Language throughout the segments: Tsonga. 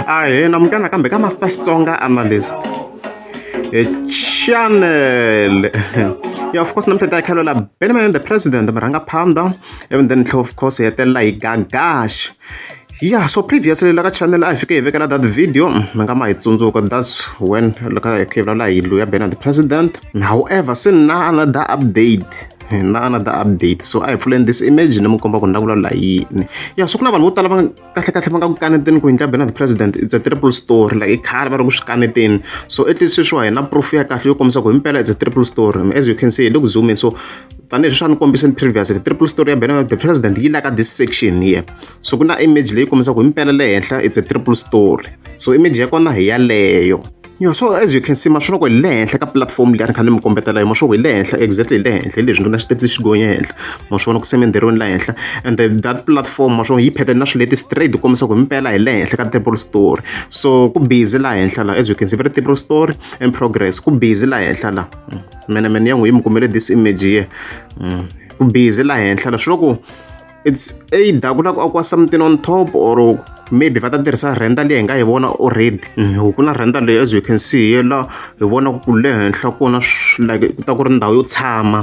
ahee namukana kambe ka master xitsonga analyst e channel yeah of course namhlanje ayikhalela benjamin the president murhanga phanda and then tlhe of course hi hetelela hi gagash yeah so previously la ka channel a hi fike hi vekela that video mi nga ma hi tsundzuka that's when laka hi khivulala hi lu ya bena the president however se na another update na another update so a hi pfuleni this image ni mi komba ku ni la ku vulavula yini ya so ku na vanhu vo tala va kahle kahle va nga ku kaneteni ku hinhla benard president it's a triple story like i khale va ri ku swi kaneteni so at least sweswiwa hi na proof ya kahle yo kombisa ku himpela it's a triple story as you can see hi le ku zoomeni so tanihi swi swa ni kombiseni previously triple story ya benard the president yi laka this section here so ku na image leyi kombisaka ku himpela le henhla it's a triple story so image ya kona hi yaleyo Yo so as you can see maswonoko hi le henhla ka platform leyi a ni kha ni mi kombetela hi maswonoko hi le henhla exactly hi le henhla hi leswi ri na xitepisi xi gonye henhla maswonoko se minderweni la henhla and the, that platform maswonoko yi phetheni na swileti straight ku kombisa ku himpela hi le henhla ka triple story so ku busy la henhla la as you can see very triple story and progress ku busy la henhla la mm. mene mene ya n'wi yi mi kumele this image here mm. ku busy la henhla la swi loko it's either ku lava ku akiwa something on top or maybe va ta tirhisa rhenda leyi hi nga yi vona already mm, ku na rhenda leyi as you can see yela hi vona ku le henhla kona like ku ta ku ri ndhawu yo tshama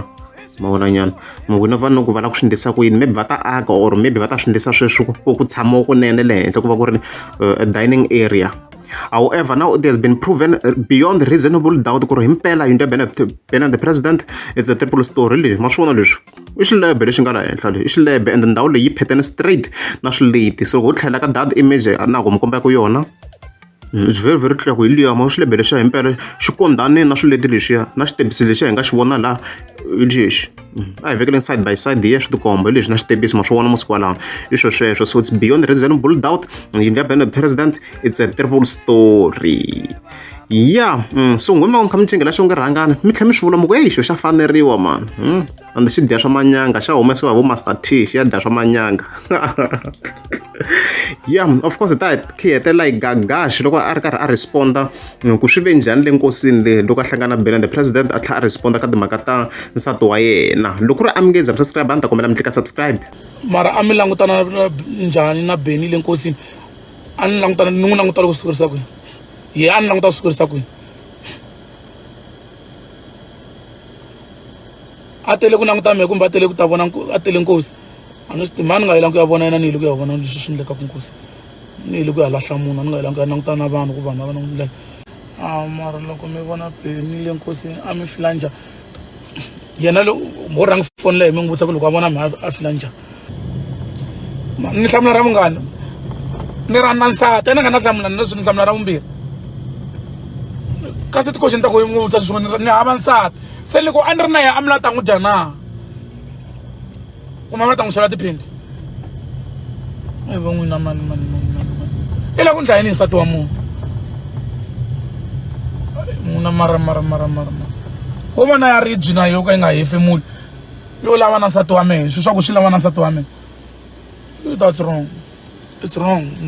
mavonanyana mavona va noku va lava ku swi ndlisa ku yini maybe va ta aka or maybe va ta swi ndlisa sweswi ku ku tshamiwa kunene le henhla ku va ku ri uh, a dining area However, now it has been proven uh, beyond reasonable doubt ku ri himpela yindlu ya Bernard the President it's a triple story leyi ma swi vona leswi i xilebhe lexi nga laha henhla lexi i xilebhe ende ndhawu leyi yi phethene straight na swileti so ho tlhela ka dad image a na ku mi kombaka yona mm, it's very very clear ku hi liya ma xilebhe lexiya hi mpela xi kondzane na swileti lexiya na xitebisi lexiya hi nga xi vona laha hi lexi mm, a hi vekeleni side by side hi ya swi tikomba hi leswi na xitebisi ma swi vona masiku walawa i swo sweswo so it's beyond reasonable doubt yindlu ya bene president it's a terrible story ya mm, so n'wina va mi kha mi tlengela xo nge rhangana mi tlhela mi swi vula muku eyi xo xa faneriwa mani mm. and xi dya swa manyanga xa humesiwa hi vo master t xi ya dya swa manyanga ya of course ta khi hetelela yi gagaxi loko a ri karhi a responda mm, ku swi ve njhani le nkosini le loko a hlangana bela the president a tlhela a responda ka timhaka ta nsati wa yena loko ri a mi nge za mi subscribe a ni ta kombela mi tlika subscribe mara a mi langutana njhani na beni le nkosini a ni langutana ni n'wi langutana ku swi kurisa kwihi hi a ni languta ku swi kurisa kwini a tele ku languta mehe kumbe a tele ku ta vona a tele nkosi a ni swi tivi mani nga yelangi ku ya vona yena ni yile ku ya vona leswi swi endlekaka nkosi ni yile ku ya lahla munhu a ni nga yelangi ku ya languta na vanhu ku vanhu va va na ku ndlela a mara loko mi vona ni le nkosini a mi fila njhani yena mo rhanga foni leyi mi n'wi vutisa ku loko a vona mhaka a fila njhani ni hlamula ra munghana ni ra na nsati ena nga na hlamula ni leswi ni hlamula ra vumbirhi kasi tikoxi ni ta ku yi n'wi vutisa swin'wana ni hava nsati se loko a ni ri na yena a mi la ta n'wi dya na ku mama ta n'wi sola tiphindi i va n'wina mani mani mani mani mani i la ku ndla yini nsati wa munhu n'wina mara mara mara mara mara wo vona ya ribyi na yo ka yi nga hefemuli yo lava na nsati wa mehe swi swa ku swi lava na nsati wa mehe that's wrong it's wrong